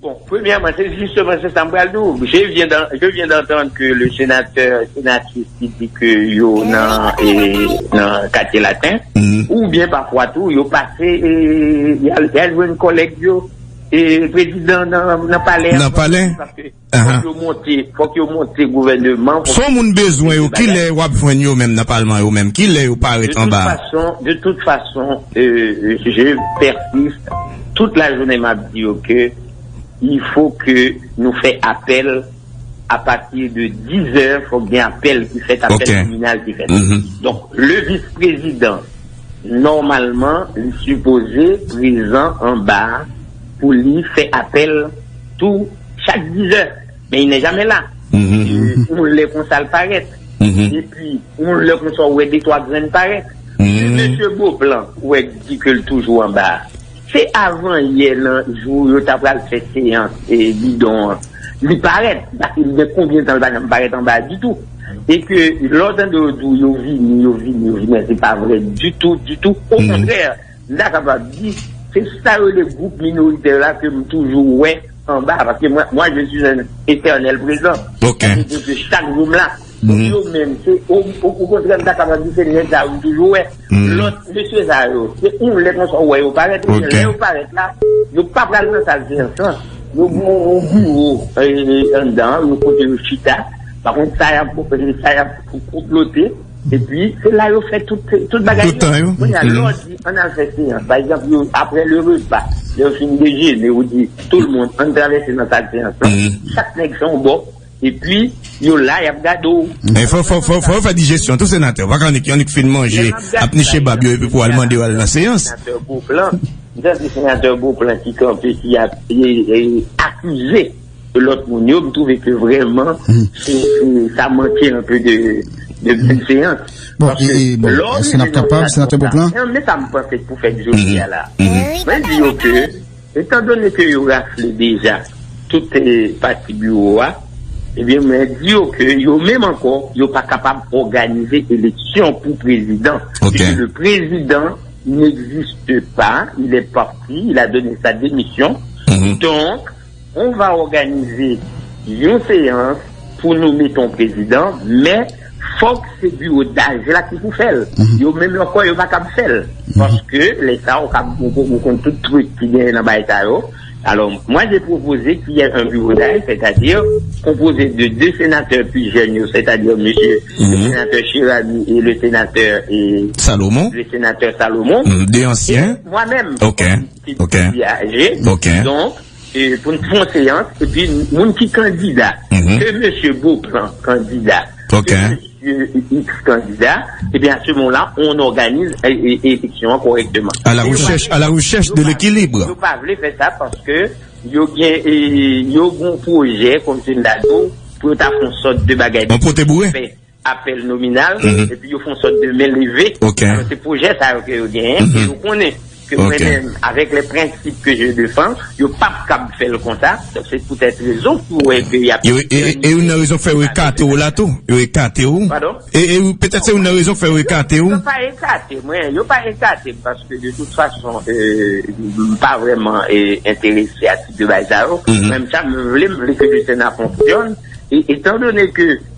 Bon, premyèman, se jisteman se sa m pral di w. Je vyen dan, je vyen dantann ke le senatè, senatris ki di ke yo nan, nan katye laten, oubyen pafwa tou yo pase, y al, y al jwenn kòlèg yo, prezidan nan, nan palè a. Nan palè? Paske fòk yo monte, fòk yo monte gouvèneman. Son moun bezwen yo, kilè w ap jwenn yo menm nan palman yo menm? Kilè yo parèt anba a? De tout fason, de tout fason, je pèsiste. Tout la jounen map di yo ke il faut ke nou fè apèl a pati de 10 zè fòk gen apèl ki fèt apèl tribinal ki fèt donk le vis prezidan nòmalman li sipoze prezan anba pou li fè apèl tou chak 10 zè men il nè jamè la yon lè konsa l parèt. Epi yon lè konsa ou wè de twa grenn parèt. Si mesye Beauplan wè di ke l toujou anba a, se avan yè nan jou yo ta pral fè seyans bidon an li parèt. Paske li gen konbyen tan li pa janm parèt anba a ditou. E ke lè w tande yo di w yo vini, yo vini, yo vini an se pa vre ditou, ditou. Okontrè! M ta kapab di, se sa yo rele gwoup minoritè la ke m toujou wè anba a, paske mwen, moi je suis un eternel présent, sa vle di ke chak jou m la. Donk yo menm, se okontrè m ta kapab di se nèg sa yo m toujou wè. Lòt mesye sa yo, se yon lè konsa ou wè yo parèt, oubyen lè yo parèt la, yo pa pral nan sal seyans lan. Yo gen yon biwo anndan an, yon kote yo chita, pa konn sa y ap konplote. Epi, se la yo fè tout bagay yo. Tout tan yo. Kounye a, lè ou di, an n al fè seyans. Pa egzanp, yo, apre le repa, lè yo fin dejene, ou di, tou l moun, an n travèse nan sal seyans lan. Chak nèg fè yon bò. Epi, yo la, y ap gade w. Men fò, fò, fò, fò yo fè dijesyon tou, senatè. Ou pa ka annik, yo annik fin manje, ap niche bab yo epi pou al mande yo al nan seyans. Senatè Beauplan. M tande senatè Beauplan ki kanpe, ki ap, e, e, akize. Lot moun yo m trouve ke vreman sa manke un peu de bienseance. Bon, si nap kapab, senatè Beauplan. Mwen menm sa m panse pou fèt jodi a la. Mwen di yo ke, etan done ke yo rafle deja tout pati biwo a, ebyen mwen di yo ke yo menm anko yo pa kapab òganize eleksyon pou prezidan. Pwiske le prezidan n'existe pa, il est parti, il a donne sa demission. Donk. On va òganize yon seyans pou nome ton prezidan, men fòk se biwo daj la ki pou fè l. Yo menm yo kwè yo pa kab fè l. Paske lè sa ou kab ou konn tout trik ki genyen nan bagay sa yo. Alò, mwen je pwopoze ki yè an biwo daj, sètadi konpoze de 2 senatè pi jèn yo, sètadi mesye le senatè Chiragyi e le senatè Salomon. Le senatè Salomon. 2 ansyen. E mwen menm. Ok. Ok. Viaje. Ok. Donk, pou n fon seyans, epi moun ki kandida, ke mesye Beauplan kandida, Ok. ke mesye X kandida, ebyen a se moman la, on òganiz eleksyon an kòrèkteman. A la rechèch, a la rechèch de lekilib. Yo pa vle fè sa paske yo gen, yo gen yon pwojè, kòm se m ta di w, pou yo ta fon sòt de bagay. On pote boure. apèl nominal, epi yo fon sòt de men leve, alò se pwojè sa yo ke yo genyen, ke yo konnen, ke mwen menm, avèk lè prensip ke je defan, yo pa p kab fè l konsa, donk se poutèt rezon ki wè ke y ap. E youn nan rezon k fè yo ekate w la tou, yo ekate w, e petèt se youn nan rezon k fè yo ekate w. Yo pa ekate mwen, yo pa ekate m, paske de tout fason, m pa vrèman enterese a tip de bagay sa yo, menm sa m vle, m vle ke le Sena fonksyòn, e etan done ke.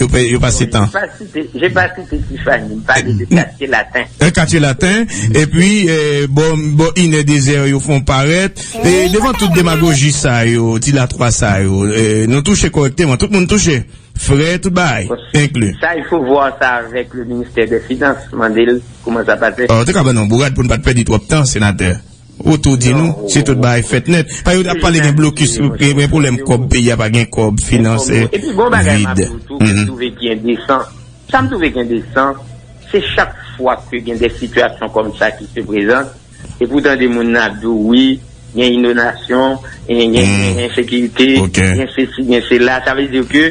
Yo pase tan. Je pa site Tifani, m pale de katye laten. E katye laten, e pi bo inè dezè yo fon parèt. E devan tout demagoji sa yo, di la twa sa yo, nou touche korekteman, tout moun touche. Frè tout bay, enkli. Sa il fo vwa sa avèk le ministè de finans, mande l kouman sa pase. Ou te ka ban nou bourad pou n pa t pèdi twòp tan, senatè. Ou tou di nou, si tout bagay fèt nèt, pa yo tap pale gen blokis, gen pwoblèm kòb, peyi a pa gen kòb, finans vid. Epi gon bagay map di w tou kem twouve ki endesan, sa m twouve ki endesan, se chak fwa ke gen de sitiyasyon kòm sa ki se prezant, epi w tande moun nan ap di w wi, gen inondasyon, gen ensekirite, gen sesi, gen sela, sa vle di ke.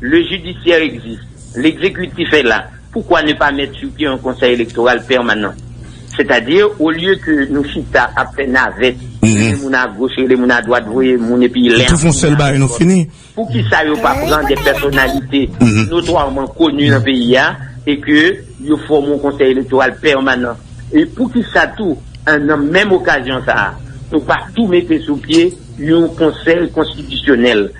Le judiciaire existe, l'executif est là, pourquoi ne pas mettre sur pied un conseil électoral permanent? C'est-à-dire au lieu que nou chita ap fè navèt, rele moun a goch, rele moun a dwat, voye moun epi lè a fini, poukisa yo pa pran des personnalités notoirement connues nan peyi a et que yo fòme yon conseil électoral permanent? Et poukisa tou nan menm occasion sa a nou pa tou mete sou pye yon conseil constitutionnel?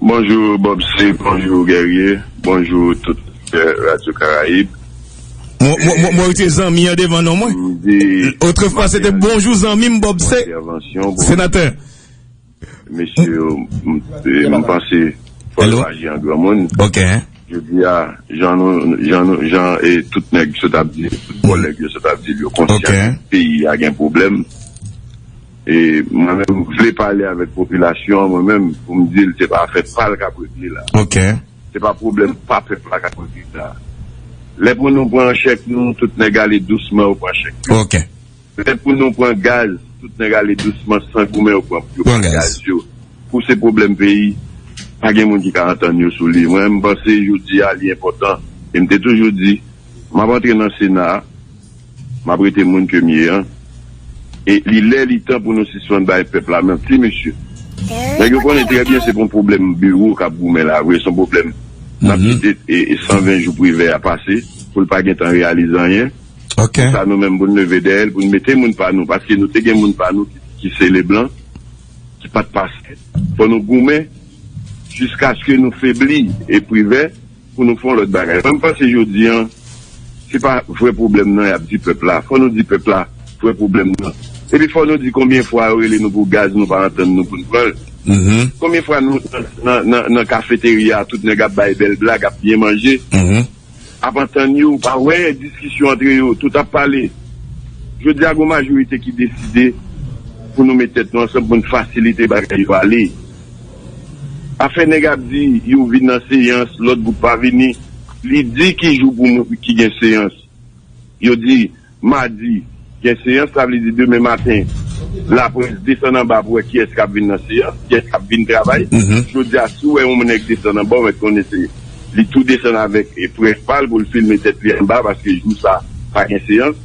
Bonjou Bob C bonjou Guerrier bonjou tout oditè Radyo Karayib. Mwen retire zanmi an devan non mwen. Otrefwa se te bonjou zanmi m Bob C. Senatè. Mesye yo m panse fò yo aji an granmoun. Ok. Jodi a jan nou jan e tout nèg sot ap di tout kòlèg yo sot ap di l yo konsyan peyi a gen pwoblèm. E mwen menm m vle pale avèk popilasyon an mwen menm pou m di l se pa afè pa l k ap regle la. Se pa pwoblèm pa pèp la k ap regle sa. Lè pou nou pran chèk nou, tout nèg ale dousman yo pran chèk yo. Lè pou nou pran gaz, tout nèg ale dousman san goumen yo pran yo pran gaz yo. Kou se pwoblèm peyi, pa gen moun ki ka antann yo sou li. Mwen menm m panse jodi a li enpòtan e m te toujou di m ap antre nan sena a. M ap rete moun ke m ye an. E li lè li tan pou nou sispann bay pèp la manti mesye. Nèg yo konnen trè byen se pou yon pwoblèm biwo k ap goumen la vre, s on pwoblèm n ap kite 120 jou Privè a pase pou l pa gen tan reyalize anyen. Pou sa nou menm pou n leve dèyè l pou n mete moun pa nou paske nou te gen moun pa nou ki se Leblan ki pa t pase. Fò nou goumen jiskaske nou febli e Privè. Pou nou fè yon lòt bagay. Mwen panse jodi an, se pa vrè pwoblèm nan y ap di pèp la. Fò nou di pèp la vrè pwoblèm nan. Epi fò nou di konbyen fwa yo rele nou pou gaz nou pa antann nou pou n pran l. Konbyen fwa nou nan kafeterya a tout nèg ap bay bèl blag, ap byen manje, ap antann yo, ou pa wè diskisyon antre yo, tout ap pale. Jodi a gen yon majorite ki deside pou nou met tèt nou ansanm pou n fasilite bagay yo ale. Afè nèg ap di yo vin nan seyans lòt gwoup pa vini li di ki jou pou moun ki gen seyans yo di madi gen seyans sa vle di demen maten laprès desann anba pou wè kiyès kap vin nan seyans kiyès kap vin travay jodia si w wè yon nèg desann anba w mèt konnen se li tou desann avèk près pa l pou l filme tèt li anba paske jou sa pa gen seyans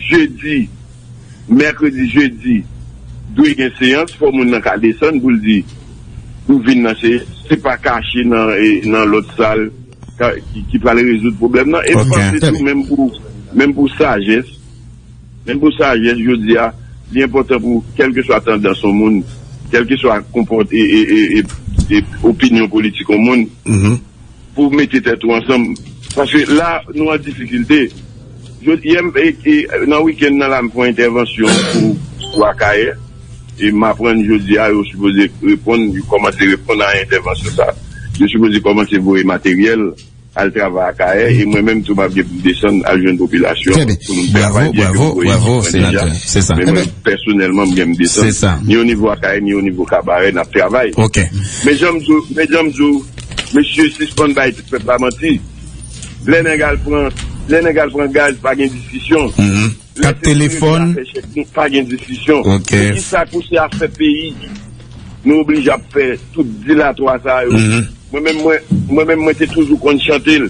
jedi. Mèkredi, jedi dwe gen seyans fò moun nan ka desann pou l di pou vin nan seyans se pa kache nan lòt sal ki pral rezoud pwoblèm nan e m panse tou menm pou menm pou sajès menm pou sajès jodi a li enpòtan pou kèlkeswa tandans yon moun kèlkeswa konpòte e opinyon politik yon moun. Pou mete tèt ou ansanm. Paske la nou an difikilte. Yè m nan wikenn nan la m fon entèvansyon pou Akayè. E m aprann jodi a yo sipoze reponn yo kòmanse reponn a entèvansyon sa. Yo sipoze kòmanse voye materyèl al travay Akayè. E mwen menm tou m ap gen pou m desann al jwenn popilasyon an pou nou travay byen ke m voye ekip mwen deja. Men mwen pèsonèlman m gen m desann. Ni onivo Akayè ni onivo Kabarè n ap travay. Men jan m di w. Mesye sispann bay pèp la manti lè nèg al pran lè nèg al pran gaz pa gen diskisyon lè se pou rete afè chèk nou pa gen diskisyon se ki sa kou se afè peyi nou oblije ap fè tout dilatwa sa yo mwen menm mwen mwen menm mwen te toujou konn chante l.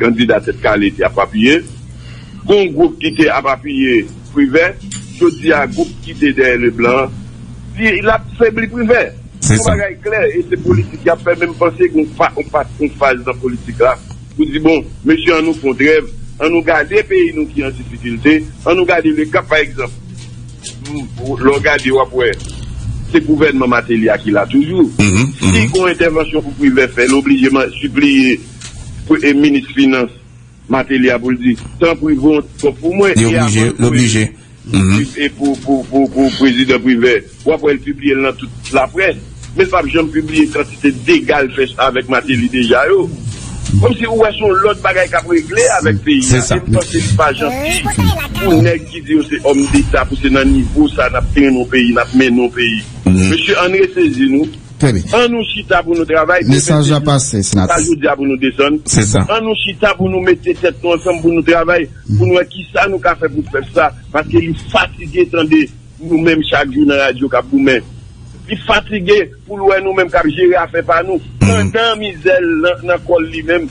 Kandida Tèt Kale te ap apiye. Gon gwoup ki te ap apiye Privè. Jodi a gwoup ki te dèyè Leblan an di l ap febli Privè. Yon bagay klè e se politik y ap fè men m panse gen yon faz nan politik la pou di bon mesye an nou fon trèv, an nou gade peyi nou ki an difikilte, an nou gade le kap pa egzanp lè w gade w ap wè se gouvènman Mateli a ki la toujou. Si gon entèvansyon pou Privè fè l oblije sipliye Premye minis finans Mateli a pou l di, tanpri voye yon ti kòb pou mwen. Li oblije, l oblije. E pou prezidan Privè, w ap wè l pibliye l nan tout laprès, men l p ap janm pibliye kantite dega l fè avèk Mateli deja yo. Kòmsi ou wè se yon lòt bagay k ap regle avèk peyi a. E m panse li pa janti pou nèg ki di yo se òmdeta pou se nan nivo sa a n ap trennen yon peyi, n ap mennen yon peyi. Mesye, ann resezi nou. Trè byen. An nou chita pou nou travay, demen se jou nou, se pa jodi a pou nou desann. An nou chita pou nou mete tèt nou ansanm pou nou travay, pou nou wè kisa nou ka fè pou pèp sa, paske li fatige tande nou menm chak jou nan radyo k ap goumen. Li fatige pou l wè nou menm k ap jere afè pa nou, pandan mizè l nan kò l li menm.